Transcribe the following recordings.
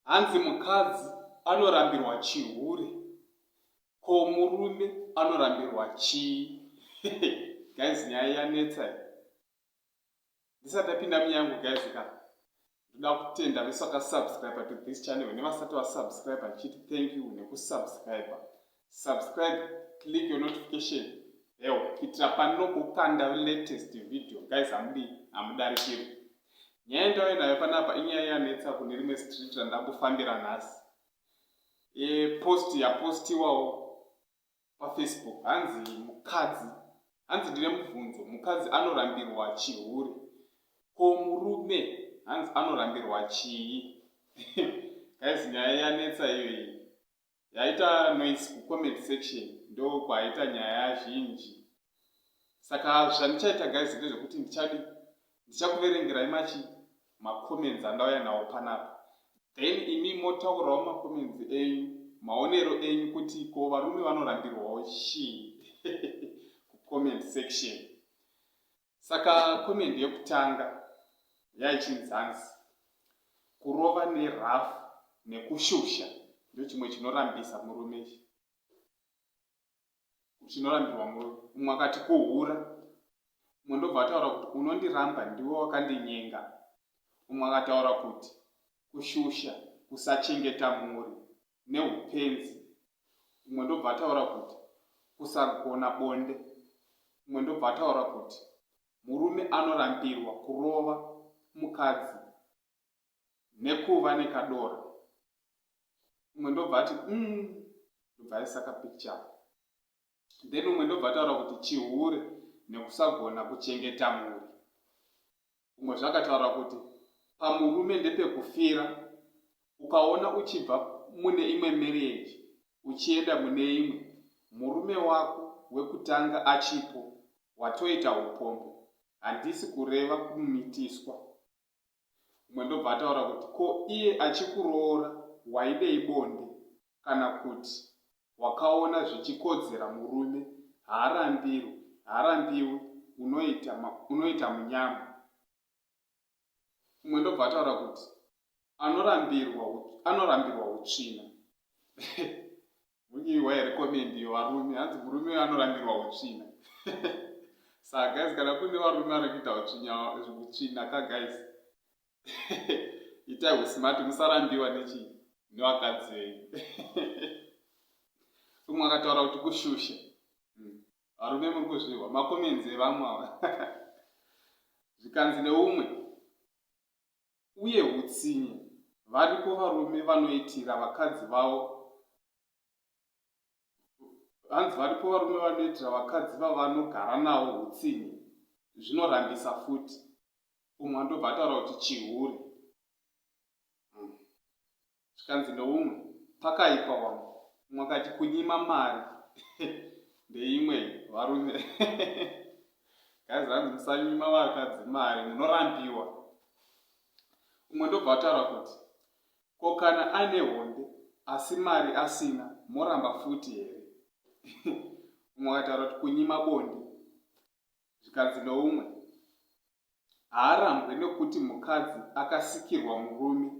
hanzi mukadzi anorambirwa chihure ko murume anorambirwa chii guys nyaya yanetsa ndisati apinda munyangu guys ka ndoda kutenda vese vakasubscribe to this channel nevasati vasubscribe ndichiti thank you nekusubscribe subscribe click your notification bell kuitira panokukanda latest video guys hamudi hamudarikiri nyaya yendauya nayo panapa inyaya yanetsa kune rimwe street randakufambira nhasi e, post yapostiwawo pafacebook hanzi mukadzi hanzi ndine mubvunzo mukadzi anorambirwa chihure ko murume hanzi anorambirwa chii guys nyaya yanetsa iyoyi yaita noise kucomment section ndokwaita nyaya zhinji saka zvandichaita guys ndezvekuti ndichadi ndichakuverengerai machi macomments andauya nawo panapa then imi motaurawo macomments enyu maonero enyu kuti ko varume vanorambirwawo chii kucomment section saka comment yekutanga yaichinzanzi kurova nerafu nekushusha ndochimwe chinorambisa murume chi zvinorambirwa murume umwe akati kuhura umwe ndobva ataura kuti unondiramba ndiwe wakandinyenga umwe akataura kuti kushusha kusachengeta mhuri neupenzi umwe ndobva ataura kuti kusagona bonde umwe ndobva ataura kuti murume anorambirwa kurova mukadzi nekuva nekadora umwe ndobva ati mm, ndobva aisa kapikicha then umwe ndobva ataura kuti chihure nekusagona kuchengeta mhuri umwe zvakataura kuti pamurume ndepekufira ukaona uchibva mune imwe marriage uchienda mune imwe murume wako wekutanga achipo watoita upombo handisi kureva kumitiswa umwe ndobva ataura kuti ko iye achikuroora waidei bonde kana kuti wakaona zvichikodzera murume haarambirwi haarambiwi unoita unoita munyama umwe ndobva ataura kuti anorambirwa anorambirwa utsvina Munyiwa here comment yevarume hanzi murume uyo anorambirwa utsvina saa guys kana kune varume vari kuita utsvina ka guys itai usmart musarambiwa nechii nevakadzi venyu umwe akataura kuti kushusha hmm. varume muri kuzvihwa makomenzi evamwe ava zvikanzi neumwe uye hutsinye variko varume vanoitira vakadzi vavo hanzi varipo varume vanoitira vakadzi vavanogara navo hutsinye zvinorambisa futi umwe andobva ataura kuti chihure hmm. zvikanzi neumwe pakaipa wangu umwe akati kunyima mari ndeimwe varume guys hanzi musanyima vakadzi mari munorambiwa umwe ndobva ataura kuti ko kana aine honde asi mari asina moramba futi here umwe akataura kuti kunyima bonde zvikanzi noumwe haarambwe nokuti mukadzi akasikirwa murume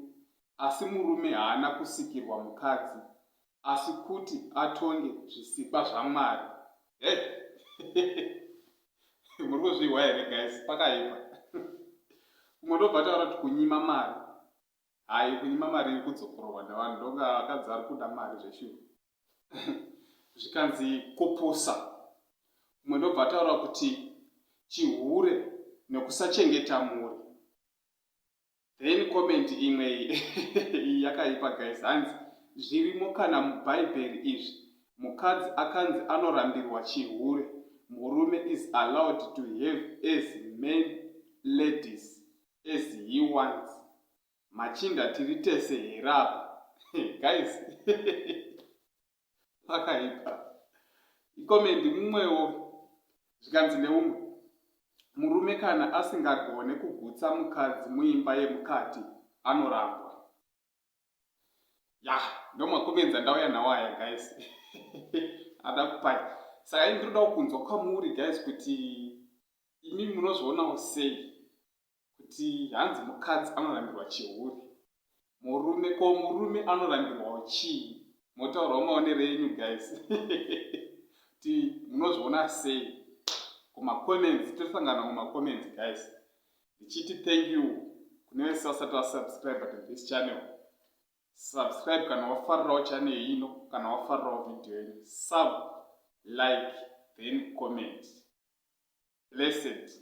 asi murume haana kusikirwa mukadzi asi kuti atonge zvisikwa zvamwari he muri kuzvihwa here guys pakaipa umwe ndobva taura kuti kunyima mari Hayi kunyima mari iri kudzokororwa nevanhu ndoga vakadzi vari kuda mari zveshuwa. Zvikanzi kupusa. Umwe ndobva ataura kuti chihure nekusachengeta mhuri. Then comment imwe iyi yakaipa guys hanzi zvirimo kana mubhaibheri izvi mukadzi akanzi anorambirwa chihure murume is allowed to have as men ladies as he wants machinda tiri tese here apa guys pakaipa ikomendi mumwewo zvikanzi neumwe murume kana asingagone kugutsa mukadzi muimba yemukati anorambwa ya ndomwakubenza ndauya nawo aya guys ada kupai saka ini ndinodawo kunzwa kwamuri guys kuti imi munozvionawo sei kuti hanzi mukadzi anorambirwa chihuri murume ko murume anorambirwawo chii motaurawo maonero enyu guys kuti munozviona sei kumacomments tosangana kumacomments guys ndichiti thank you kune vese vasati vasubscribe to this channel subscribe kana wafarirawo channel ino kana wafarirawo video ino sub like then comment blessed